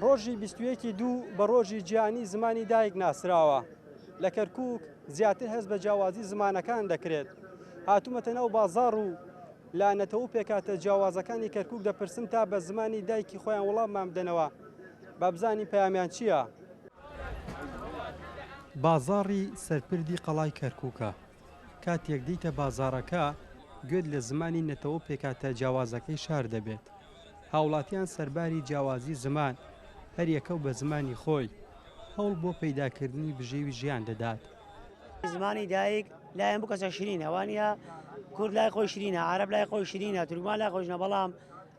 ڕۆژی بیست و یەکی دوو بە ڕۆژی جیهانی زمانی دایک ناسراوە لە کەرکووک زیاتر هەست بە جیاوازی زمانەکان دەکرێت هاتوومەتە ناو بازاڕ و لە نەتەوە و پێکهاتە جیاوازەکانی کەرکووک دەپرسم تا بە زمانی دایکی خۆیان وەڵاممان بدەنەوە با بزانین پەیامیان چییە؟ بازاڕی سەرپردی قەڵای کەرکووکە کاتێک دێیتە بازاڕەکە، گوێت لە زمانی نەتەوە و پێکهاتە جیاوازەکەی شار دەبێت. هاوڵاتیان سەرباری جیاوازی زمان، هەریەکە و بە زمانی خۆی، هەوڵ بۆ پەیداکردنی بژێوی ژیان دەدات. زمانی دایک لای هەموو کەسێک شرینە، وا نییە؟ کورد لای خۆی شرینە، عارەب لای خۆی شرینە، تورکمان لای خۆی شرینە، بەڵام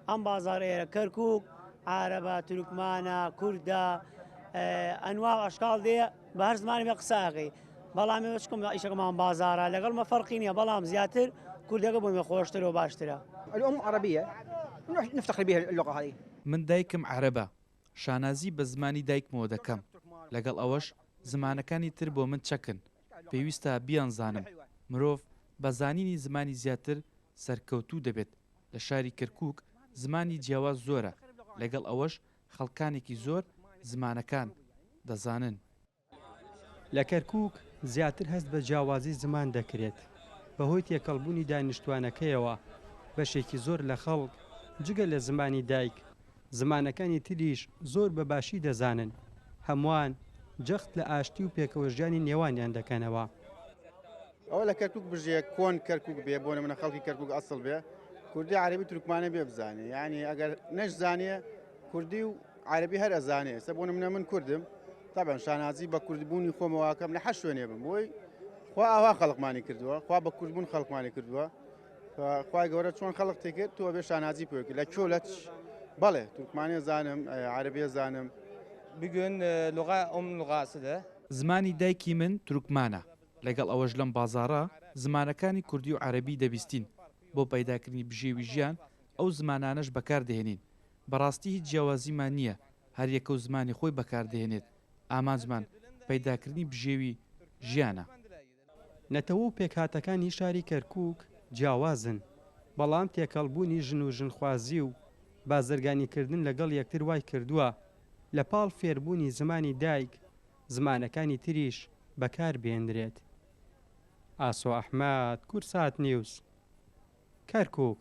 ئەم بازاڕە ئێرە، کەرکووک، عارەبە، تورکمانە، کوردە، ئەنواع و ئەشکاڵ دێ، بە هەر زمانێک بێت قسە ئەکەی بەڵام ئێمە چکم ئیشەکەمان بازارە لەگەڵ مە فەرقی نییە بەڵام زیاتر کوردەکە بۆ مێ خۆشتر و باشترە الام عربیە نفتخر بها اللغە هذه. من دایکم عەرەبە شانازی بە زمانی دایکمەوە دەکەم لەگەڵ ئەوەش زمانەکانی تر بۆ من چەکن پێویستە بیانزانم مرۆڤ بە زانینی زمانی زیاتر سەرکەوتوو دەبێت لە شاری کەرکووک زمانی جیاواز زۆرە لەگەڵ ئەوەش خەڵکانێکی زۆر زمانەکان دەزانن. لە کەرکووک زیاتر هەست بە جیاوازی زمان دەکرێت، بەهۆی تێکەڵبوونی دانیشتووانەکەیەوە، بەشێکی زۆر لە خەڵک جگە لە زمانی دایک، زمانەکانی تریش زۆر بە باشی دەزانن، هەمووان جەخت لە ئاشتی و پێکەوەژیانی نێوانیان دەکەنەوە. ئەوە لە کەرکوک بژێ کۆن کەرکوک بێ بۆ نمونە خەڵکی کەرکوک ئەسڵ بێ کوردی عربی تورکمانە بێ بزانێ یعنی ئەگەر نەش زانێ کوردی و عربی هەر ئەزانێ سە بۆ نمونە من کوردم طبعا شانازی بە کوردبوونی خۆمەواکەم لە حە شوێنێ بم بۆی خوا ئاوا خەڵقمانی کردووە خوا بە کوردبوون خەڵقمانی کردووە خخوای گەورە چۆن خەڵق تێکرد تۆ بێ شانازی پێکرد لە کۆ لە بەڵێ تورکمانێ زانم عربێ زانم بگوێن لغا ئەم لغاسدە زمانی دایکی من تورکمانە لەگەڵ ئەوەش لەم بازاڕە زمانەکانی کوردی و عەرەبی دەبیستین بۆ پەیداکردنی بژێوی ژیان ئەو زمانانەش بەکاردەهێنین بەڕاستی هیچ جیاوازیمان نییە هەریەکەو زمانی خۆی بەکاردەهێنێت ئامانجمان پەیداکردنی بژێوی ژیانە. نەتەوە و پێکهاتەکانی شاری کەرکووک جیاوازن، بەڵام تێکەڵبوونی ژن و ژنخوازی و بازرگانیکردن لەگەڵ یەکتر وایکردووە لەپاڵ فێربوونی زمانی دایک، زمانەکانی تریش بەکار بێنرێت. ئاسۆ ئەحمەد، کورسات نیوز، کەرکووک.